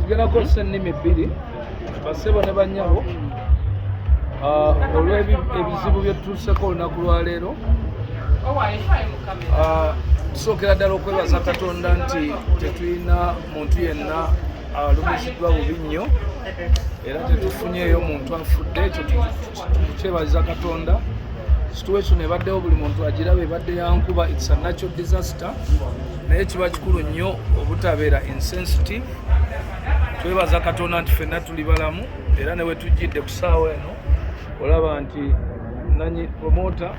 tugenda kukozesa ennimi bbiri basebo ne banyabo ah, olw'ebizibu byetutuuseko olunaku lwaleero ah, tusookera ddala okwebaza katonda nti tetulina muntu yenna alumiziddwa bubi nnyo era tetufunyeeyo muntu afudde ekyo kyebaza katonda situation ebaddewo buli muntu agiraba ebadde yankuba its a natural disaster naye kiba kikulu nnyo obutabeera insensitive twebaza katonda nti fenna tuli balamu era newetujjidde ku saawa eno olaba nti nanyi promota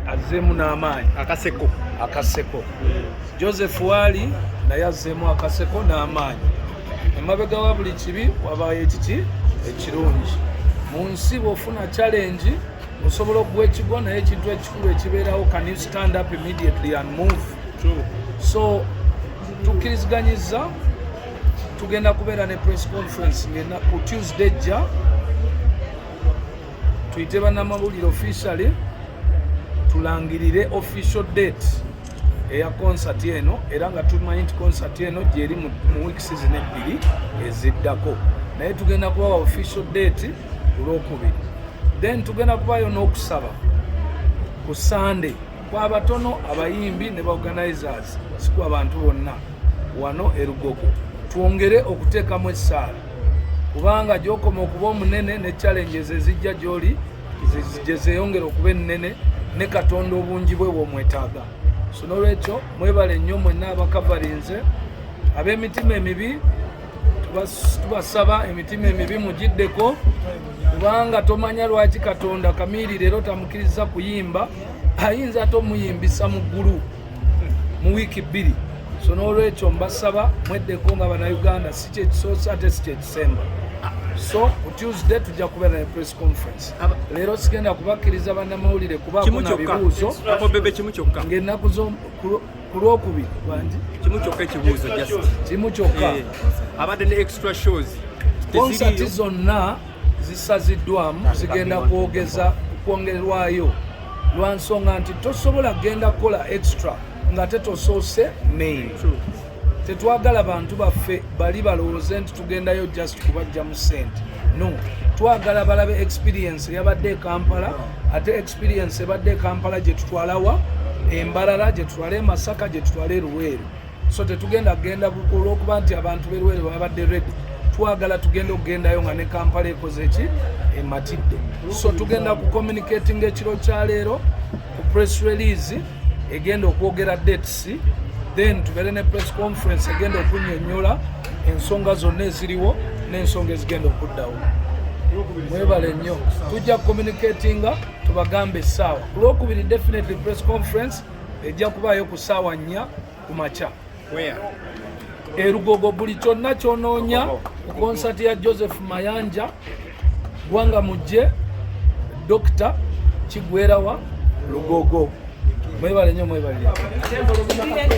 azzeemu n'amaanyi akaseko akaseko joseph waali naye azzeemu akaseko n'amaanyi emabega wa buli kibi wabaayo ekiki ekirungi mu nsi bwofuna challenge osobola okuwa ekigo naye ekintu ekikulu ekibeerawo can you stand up immediately and move True. so tukkiriziganyiza tugenda kubeera ne press conference ngena ku tuesday jja tuyite bannamawulire officially tulangirire official date eya konsati eno era nga tumanyi nti konsati eno gyeri mu weeks zino ebbiri eziddako naye tugenda kubawa official date kulwokubiri then tugenda kubayo n'okusaba ku sande kwabatono abayimbi ne baorganizers siku abantu bonna wano erugogo twongere okuteekamu essaala kubanga gyokoma okuba omunene ne challenges ezijja gyoli gye zeeyongera okuba ennene ne katonda obungi bwe bwomwetaaga so n'olwekyo mwebale nnyo mwenna abakavalinze ab'emitima emibi tubasaba emitima emibi mugiddeko kubanga tomanya lwaki katonda kamiiri leero tamukiriza kuyimba ayinza ate omuyimbisa mu ggulu mu wiiki bbiri so n'olwekyo mbasaba mweddeko nga banauganda si kyekisoose ate si kyekisemba so ku tuesday tujja kubeera ne press conference leero sigenda kubakkiriza bannamawulire kubaako na bibuuzo ng'ennaku ku lwokubiri bangi kimu kyokka ekibuuzo kimu kyokka eh, abadde ne extra shows konsati zonna zisaziddwamu zigenda kwogeza kwongerwayo lwa nsonga nti tosobola kugenda kukola extra nga tetosoose main tetwagala bantu baffe bali balowooze nti tugendayo just kubajja mu sente no twagala balabe experience yabadde ekampala ate experience ebadde ekampala gyetutwalawa embalala gyetutwala emasaka gyetutwala eruweeru so tetugenda kugenda olwokuba nti abantu berwere babadde redi twagala tugenda okugendayo nga ne kampala ekoze ki ematidde so tugenda ku communicating ekiro kya leero ku press release egenda okwogera dates then tubeere ne press conference egenda okunyonyola ensonga zonna eziriwo n'ensonga ezigenda okuddawo mwebale nnyo tujja kucommunicatinga tubagambe essaawa ku lwokubiri definitely press conference ejja kubaayo ku ssaawa nnya ku makya erugogo buli kyonna kyonoonya ku konsati ya joseph mayanja gwanga mujje dokita kigwerawa lugogo mwebale nyo mwebale